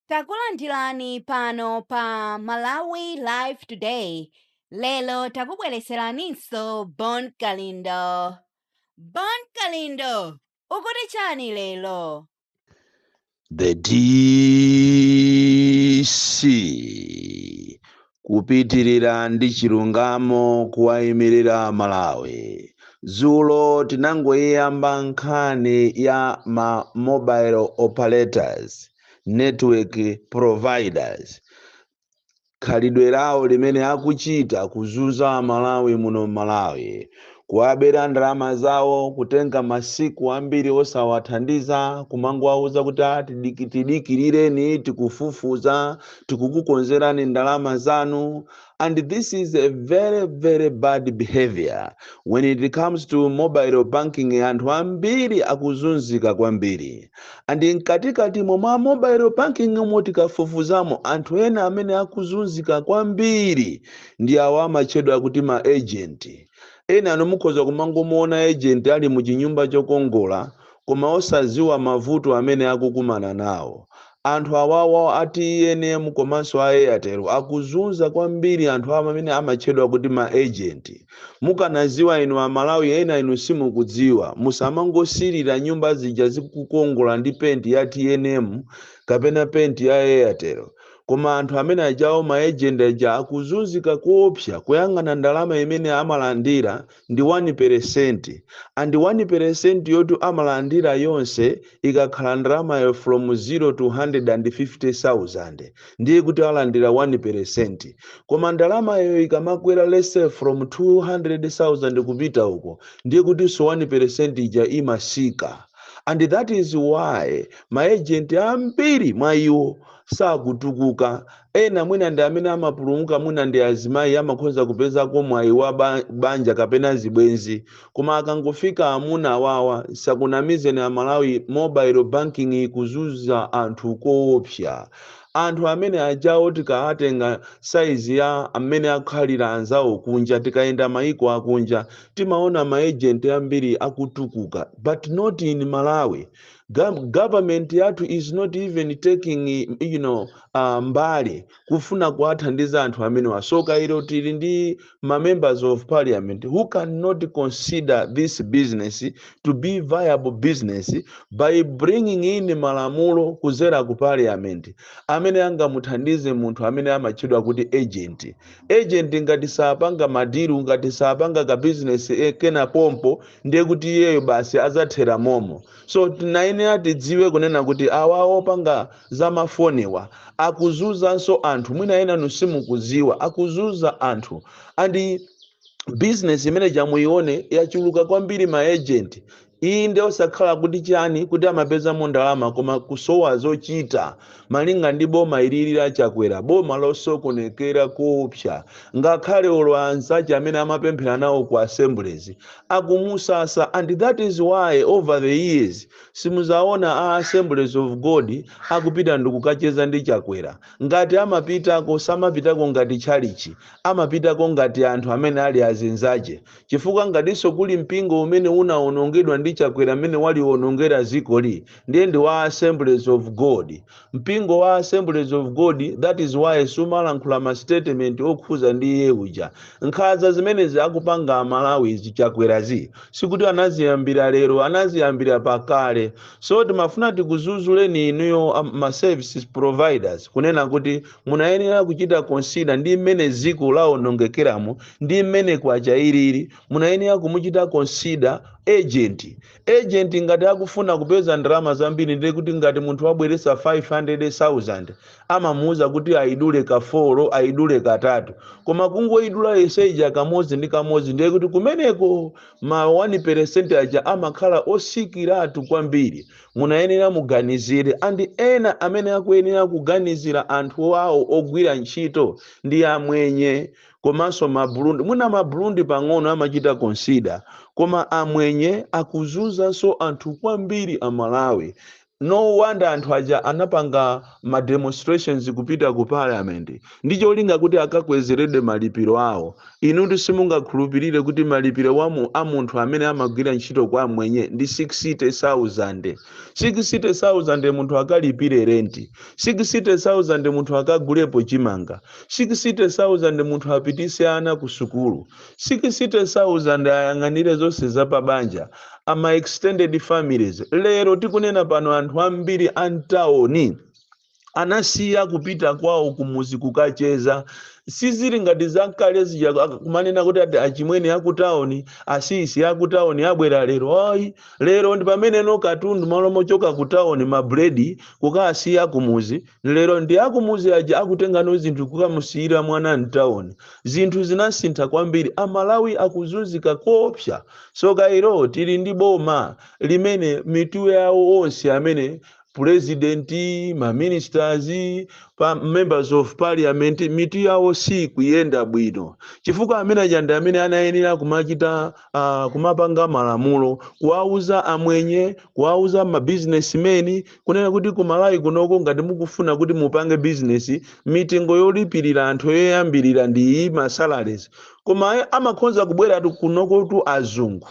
Takulandirani pano pa Malawi Live Today lero takubweretseraninso Bon Kalindo. Bon Kalindo, ukuti chani lero? The DC Kupitirira ndi chilungamo kuwayimirira Amalawi. Dzulo tinangoyiyamba nkhani ya ma mobile operators, network providers, khalidwe lawo limene akuchita kuzunza Amalawi muno m'Malawi. kuwabera ndalama zawo kutenga masiku ambiri osawathandiza kumangowauza kuti "tidikirireni tikufufuza tikukukonzerani ndalama zanu and this is a very very bad behavior when it comes to mobile banking anthu ambiri akuzunzika kwambiri and mkatikati mwa mobile banking mo tikafufuzamo anthu ena amene akuzunzika kwambiri Ndi awa amatchedwa kuti ma agent. Enanu mukhoza kumangomuona agent ali mu chinyumba chokongola koma osadziwa mavuto amene akukumana nawo. Anthu awawa a tnm komanso a Airtel akuzunza kwambiri anthu amene amatchedwa kuti ma agent. Mukanadziwa inu Amalawi ena inu simukudziwa. Musamangosirira nyumba zija zikukongola ndi paint ya tnm kapena paint ya Airtel. Koma anthu amene ajawo ma agent aja akuzunzika koopsa kuyang'ana ndalama imene amalandira ndi 1 percent and 1 percent yotu amalandira yonse ikakhala ndalamayo from 0 to 150,000 ndiye kuti alandira 1 percent koma ndalamayo ikamakwera let's say from 200,000 kupita uko ndiye kutinso 1 percent ija imatsika and that is why ma agent ambiri mwa iwo sakutukuka. Ena mwina ndi amene amapulumuka mwina ndi azimayi amakhoza kupezako mwayi wa banja kapena zibwenzi. Koma akangofika amuna awawa asakunamizeni Amalawi mobile banking ikuzunza anthu koopsa. Anthu amene ajawo tikawatenga size ya mmene akhalira anzawo kunja tikayenda mayiko akunja timaona ma agent ambiri akutukuka but not in Malawi. Gov- government yathu is not even taking eh, you know, uh, mbali kufuna kuwathandiza anthu amenewa tsoka ilo tili ndi ma members of parliament who cannot consider this business to be viable business by bringing in malamulo kuzera ku parliament amene angamuthandize munthu amene amatchedwa kuti agent agent ngati sapanga madilu ngati sapanga ka business eh, kena pompo ndiye kuti iyeyo basi adzathera momo so tinayenera tidziwe kunena kuti awa opanga za mafoniwa akuzunzanso anthu mwina enanu simukudziwa akuzunza anthu andi bizinesi imene tamuone yachuluka kwambiri maejenti iyi ndi osakhala kuti chani kuti amapezamo ndalama koma kusowa zochita malinga ndi boma ilili la chakwera boma losokonekera koopsa ngakhale olo anzace amene amapemphera nawo ku assemblies akumusasa and that is why over the years simuzaona a assemblies of god akupita ndikukacheza ndi chakwera ngati amapitako samapitako ngati tchalichi amapitako ngati anthu amene ali azinzace chifukwa ngatinso kuli mpingo umene unaonongedwa ndi chakwera mmene waliwonongera zikoli ndiye ndi wa assemblies of god mpingo wa assemblies of god that is why sumalankhula ma statement okhuza ndi iye uja nkhaza zimenezi akupanga amalawizi chakwerazi sikuti anaziyambira lero anaziyambira pakale so timafuna tikuzuzuleni inuyo a ma services providers kunena kuti munayenera kuchita consider ndi mmene ziko laonongekeramo ndi mmene kwacha ilili munayenera kumuchita consider agent Agent ngati akufuna kupeza ndalama zambiri ndiye kuti ngati munthu wabweretsa 500,000 amamuuza kuti ayidule ka 4, ayidule katatu. Koma kungoyidula yonse ija kamodzi ndi kamodzi ndiye kuti kumeneko ma 1% aja amakhala otsikiratu kwambiri. Munayenera muganizire and ena amene akuyenera kuganizira anthu awo ogwira ntchito ndi amwenye. komanso ma Burundi mwina ma Burundi pang'ono amachita consider koma amwenye akuzunzanso anthu kwambiri a Malawi no wonder anthu aja anapanga ma demonstrations kupita ku parliament ndi cholinga kuti akakwezeredwe malipiro awo inutu simungakhulupirire kuti malipiro a munthu amene amagwira ntchito kwa mmwenye ndi 60000 60000 munthu akalipire renti 60000 munthu akagulepo chimanga 60,000 munthu apitise ana ku sukulu, 60,000 ayang'anire zonse za pa banja, a ma extended families. Lero tikunena pano anthu ambiri a m'taoni anasiya kupita kwawo kumuzi kukacheza sizili ngati zakale zija ak- kumanena kuti ati achimwene akutaoni asisi akutaoni abwera lero ayi lero ndi pameneno katundu malo mochoka kutaoni mabuledi kukasiya kumuzi Lero ndi akumuzi aja akutengano zinthu kukamusiyira mwana mtauni. Zinthu zinasintha kwambiri. Amalawi akuzunzika koopsa. Tsoka ilo tili ndi boma limene mitu yawo onse amene, president, ma ministers, pa members of parliament mitu yawo siikuyenda bwino chifukwa amene aja ndi amene anayenera kumachita uh, kumapanga malamulo kuwauza amwenye kuwauza ma businessmen kunena kuti ku malawi kunoko ngati mukufuna kuti mupange bizinesi mitengo yolipirira anthu yoyambirira ndi iyi masalaries koma aye amakhonza kubwera tu- kunoko tu azungu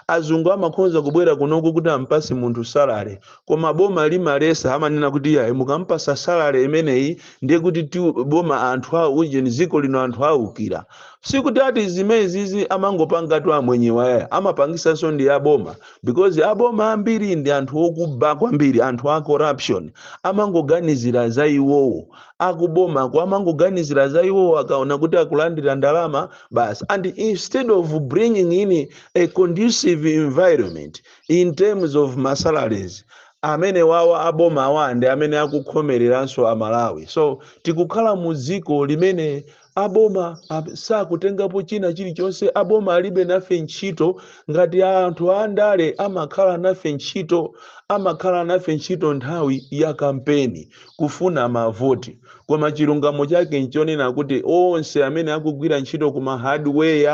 azungu amakhonza kubwera kunoko kuti ampase munthu salare koma boma limalesa amanena kuti yayi mukampasa salare imeneyi ndiye kuti ti- boma anthu awo ujeni dziko lino anthu awukira Sikuti ati zimenezi amangopangatu amwenyewa yaya amapangisanso ndi aboma because aboma ambiri ndi anthu okuba kwambiri anthu a corruption amangoganizira za iwowo akubomako amangoganizira za iwowo akaona kuti akulandira ndalama basi and instead of bringing in a conducive environment in terms of ma salaries amene wawa aboma awa ndi amene akukhomereranso amalawi so tikukhala mu dziko limene aboma ab- sakutengapo china chilichonse aboma alibe nafe ntchito ngati anthu andale amakhala nafe ntchito amakhala nafe ntchito nthawi ya kampeni kufuna mavoti koma chilungamo chake nchonena kuti onse amene akugwira ntchito ku mahardware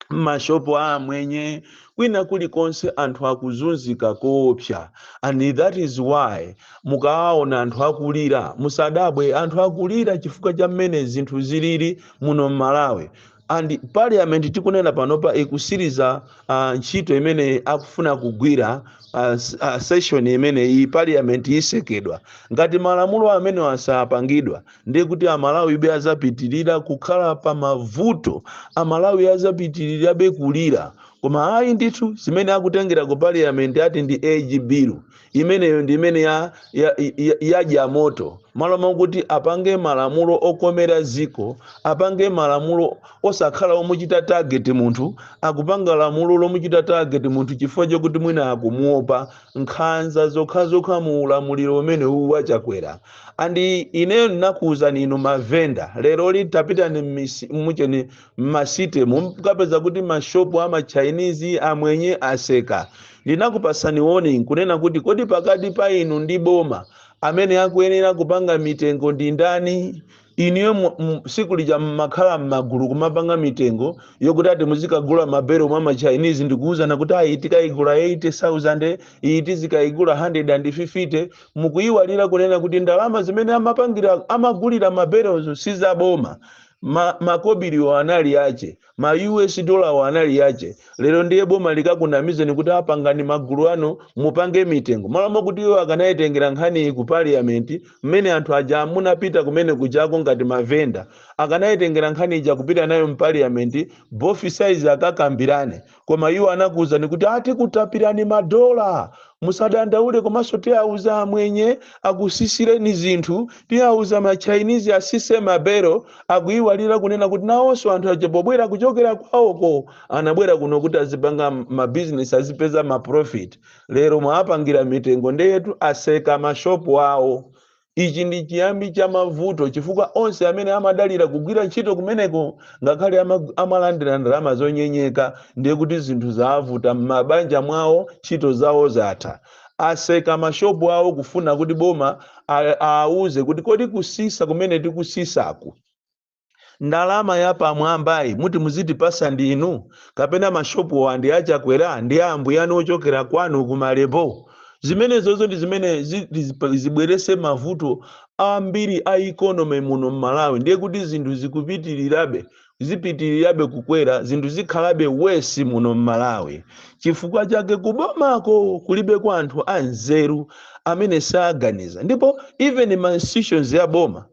m'mashopu a amwenye kwina kulikonse anthu akuzunzika koopsa and that is why mukawaona anthu akulira musadabwe anthu akulira chifukwa cha mmene zinthu zilili muno m'malawi and parliament tikunena panopa ikusiriza uh, ntchito imene akufuna kugwira uh, uh, session imene iyi parliament isekedwa ngati malamulo amene asapangidwa ndiye kuti amalawibe azapitirira kukhala pa mavuto amalawi azapitirirabe kulira koma ayi ndithu zimene akutengera ku parliament ati ndi age bill imeneyo ndi imene ya, ya, ya, yadya moto malo mokuti apange malamulo okomera ziko apange malamulo osakhala omuchita target munthu akupanga lamulo lomuchita target munthu chifukwa chokuti mwina akumuopa nkhanza zokhazokha mu ulamuliro umenewu wa chakwera and ineyo ninakuuzani inu mavenda lero litapitani mmisi- mucheni mmasite mukapeza kuti mashopu a machinese amwenye aseka ndinakupasani warning kunena kuti kodi pakati pa inu ndi boma amene akuyenera kupanga mitengo ndi ndani inuyo mu- mu- siku lija mmakhala m'magulu kumapanga mitengo yokuti ati muzikagula mabelo mwa machinese ndikuwuzana kuti ayi tikayigula 80000 iyi tizikayigula 150 mukuyiwalira kunena kuti ndalama zimene amapangira amagulira mabelozo sizaboma ma, makobiriwo anali ache Ma US dollar wo anali yake. Lero ndiye boma likakunamizeni kuti aa pangani magulu anu mupange mitengo. Malo mokuti iwo akanaitengera nkhaniyi ku parliament mmene anthu aja munapita kumene kujako ngati ma venda. Akanaitengera nkhani ija kupita nayo mu parliament both sides akakambirane. koma iwo anakuwuzani kuti atikutapirani madola musadandaule komanso tiawuza amwenye akusisireni zinthu tiawuza machinese asise mabelo akuyiwalira kunena kuti nawonso anthu aja pobwera kuchokera kwawoko anabwera kuno kuti azipanga mabizinesi azipeza maprofit lero mwawapangira mitengo ndeyetu aseka mashopu awo Ichi ndi chiyambi cha mavuto chifukwa onse amene amadalira kugwira ntchito kumeneko ngakhale amalandira ndalama zonyenyeka ndiye kuti zinthu zaavuta mmabanja mwawo ntchito zawo zatha. Aseka mashopu awo kufuna kuti boma aauze kuti kodi kusisa kumene tikusisaku? ndalama yapamwambayi muti muzitipasa ndinu kapena mashopuwa ndi achakwera ndi a ambuyanu ochokera kwanu ku malembo zimenezozo ndi zimene zi- zi- zibwerese mavuto ambiri a economy muno mmalawi ndiye kuti zinthu zikupitirirabe zipitirirabe kukwera zinthu zikhalabe wesi muno mmalawi chifukwa chake kubomako kulibe kwa anthu anzeru amene saganiza ndipo even ma institutions ya boma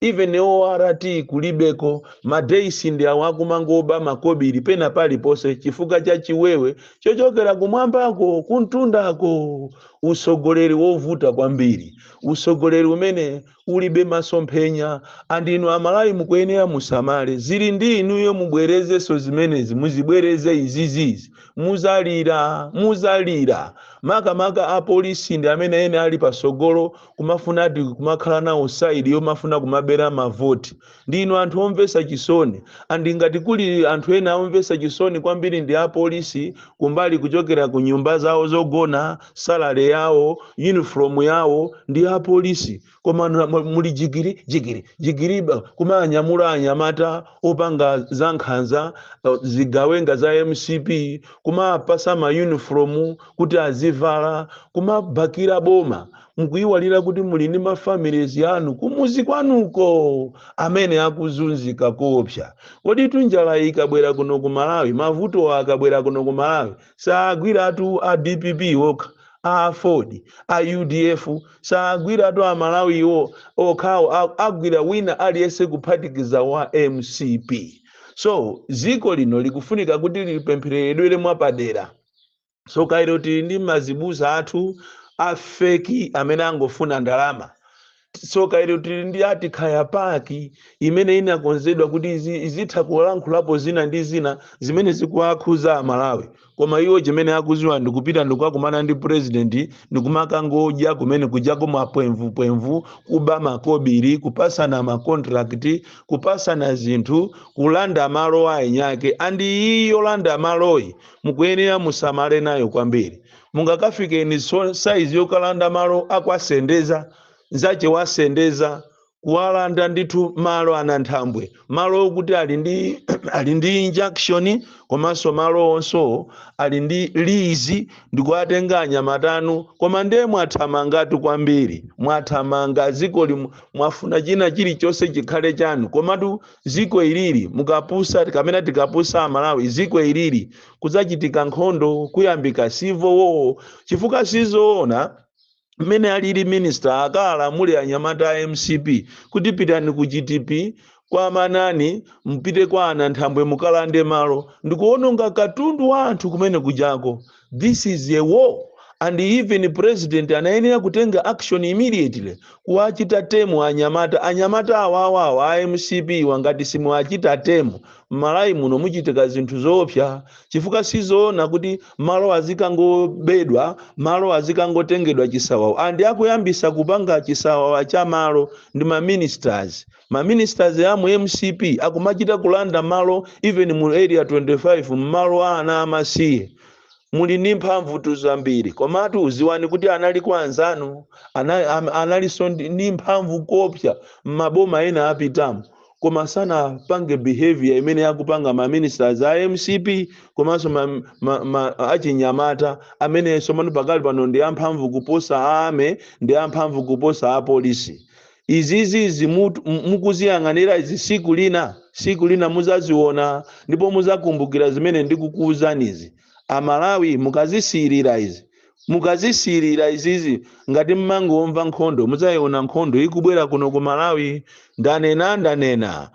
even ORT kulibeko ma days ndi awa akumangoba makobiri pena paliponse chifukwa cha chiwewe chochokera kumwambako kumtundako usogoleri wovuta kwambiri usogoleri umene ulibe masomphenya andinu amalawi mukuyenera musamale zili ndi inuyo mubwerezenso zimenezi muzibwereze izizizi muzalira muzalira makamaka apolisi ndi amene ene ali pasogolo kumafuna ati kumakhala nawo side yomafuna kumabera mavoti ndinu anthu omvesa chisoni andi ngati kuli anthu ena omvesa chisoni kwambiri ndi apolisi kumbali kuchokera ku nyumba zawo zogona salary yawo uniform yawo ndi apolisi koma nu- mu- muli jigiri jigiri jigiri ba- kumanyamula anyamata opanga za nkhanza eh, zigawenga za mcp kumapasa ma uniform kuti azivala kumabakira boma mukuyiwalira kuti muli ndi mafamilies anu kumuzi kwanuko amene akuzunzika koopsa kodi tu njala ikabwera kuno ku malawi mavuto akabwera kuno ku malawi saagwiratu a dpp okha a aford a udf saagwiratu a malawi iwo okhawo a- agwira wina aliyense kuphatikiza wa mcp so dziko lino likufunika kuti lipempheredwere mwapadera tsoka ilo tili ndi azibusa athu afeki amene angofuna ndalama tsoka ilo tili ndi ati kaya PAC imene inakonzedwa kuti izi- izitha kulankhulapo zina ndi zina zimene zikuwakhuza amalawi koma iwo chimene akuziwa ndikupita ndikukakumana ndi purezidenti ndikumakangodya kumene kujako mapwemvupwemvu kuba makobiri kupasana makontrakiti kupasana zinthu kulanda malo a enyake andi iyi yolanda maloyi mukuyenera musamale nayo kwambiri mungakafike ni so- saizi yokalanda malo akwasendeza nzache wasendeza kuwalanda ndithu malo ananthambwe malo okuti ali ndi ali ndi injunction komanso malo onso ali ndi lizi ndikuwatenga anyamata anu koma ndiye mwathamangatu kwambiri mwathamanga dziko limu mwafuna china chilichonse chikhale chanu komatu ziko ilili mukapusa kapena tikapusa amalawi ziko ilili kudzachitika nkhondo kuyambika civil war chifukwa sizoona mmene alili minister akawalamule anyamata a mcp kuti pitani ku gtp kwa manani mpite kwa ananthambwe mukalande malo ndikuononga katundu wa anthu kumene kujako This is a war and even president anayenera kutenga action immediately kuwachita tame anyamata anyamata awawa awa a mcp wa ngati simuwachita tame m'malawi muno muchitika zinthu zoopsa chifukwa sizoona kuti malo azikangobedwa malo azikangotengedwa chisawawa and akuyambisa kupanga chisawawa cha malo ndi ma ministers ma ministers amu mcp akumachita kulanda malo even mu area 25 mmalo a ana amasiye muli ndi mphamvutu zambiri komatu uziwani kuti anali kwa anzanu ana- am- analinso ndi ndi mphamvu koposa mmaboma ena apitamu koma sanapange behavior imene akupanga ma ministers a mcp komanso ma, ma, ma, achinyamata amene tsopano pakali pano ndi amphamvu kuposa a army ndi amphamvu kuposa apolisi izizi izi mut- m- mukuziyang'anira izi siku lina siku lina muzaziona ndipo muzakumbukira zimene ndikukuuzanizi amalawi mukazisiyirira izi mukazisiyirira izizi ngati mmangomva nkhondo muzayiona nkhondo ikubwera kuno ku malawi ndanena ndanena